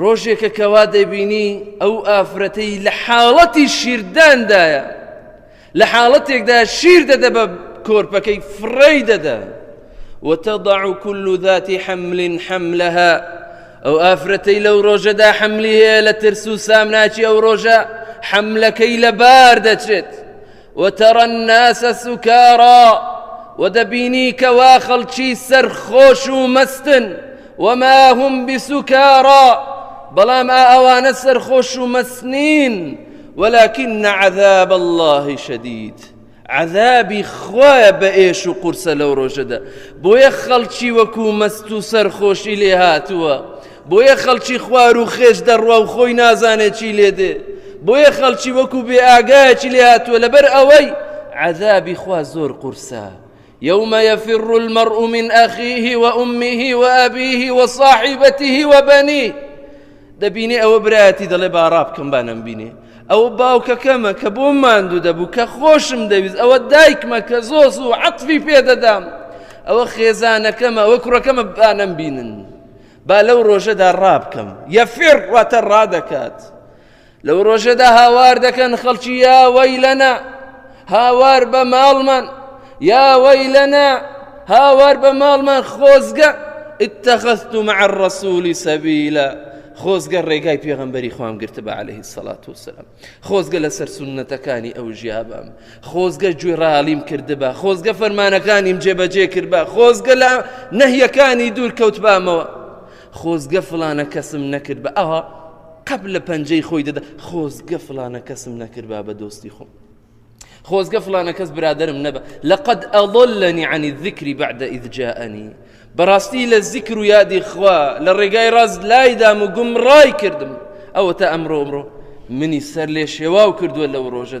ڕۆژێکە کەوا دەبینی ئەو ئافرەتەی لە حاڵەتی شیرداندایە لە حاڵەتێکدا شیر دەدە بە کۆرپەکەی فڕی دەدا وتضع كل ذات حمل حملها ئەو ئافرەتەی لەو ڕۆژەدا حملی هەیە لە ترس و سامناچی ئەو ڕۆژە حملەکەی لەبار دەچێت وترى الناس سکارا و دەبینی کەوا خەڵکی سەرخۆش و مەستن وما هم بسکارا بەڵام ئا ئەوانە سەرخۆش و مەسنین ولكن عذاب الله شديد عذابی خوایە بە ئێش و قورسە لەو ڕۆژەدا بۆیە خەڵکی وەکو مەست و سەرخۆشی لێ هاتووە بۆیە خەڵکی خوار و خێچ دەڕوا و خۆی نازانێ چی لێ دێ بۆیە خەڵکی وەکو بێ ئاگایەکی لێ هاتووە لەبەر ئەوەی عذابی خوا زۆر قورسە يوم يفر المرء من أخيه وأمه وأبيه وصاحبته وبنيه دەبینێ ئەوە برایەتی دەڵێ باڕا بکەم بانم بینێ ئەوە باوکەکەمە کە بۆ ماندوو دەبوو کە خۆشم دەویست ئەوە دایکمە کە زۆس و عەتفی پێدەدام ئەوە خێزانەکەمە ئەوە کوڕەکەمە بانم بینن با لەو ڕۆژەدا ڕابکەم، یەفر، واتە ڕادەکات، لەو ڕۆژەدا هاوار دەکەن خەڵکی یا وەیلەنا هاوار بە ماڵمان یا وەیلەنا هاوار بە ماڵمان خۆزگە اتخذت مع الرسول سبيلا خۆزگە ڕێگای پێغەمبەری خوام گرتە بە عليه الصلاة والسلام خۆزگە لەسەر سوننەتەکانی ئەو ژیابم خۆزگە گوێڕالیم کردبا خۆزگە فەرمانەکانیم جێبەجێ کردبا خۆزگە لە نەهیەکانی دوور کەوتبامەوە خۆزگە فلانە کەسم نەکرد بە ئەوە قەپ لە پەنجەی خۆی دەدا خۆزگە فلانە کەسم نەکردبا بە دۆستی خۆم خۆزگە فلانە کەس برادرم نەبە لەقد ئەڵلنی عنی ذکری بعد ئیدجاءنی بەڕاستی لە زیکر و یادی خوا لە ڕێگای ڕاست لایدام و گومڕای کردم ئەوە تا ئەمڕۆ ئەمڕۆ منی سەر لێ شێواو کردووە لەو ڕۆژەدا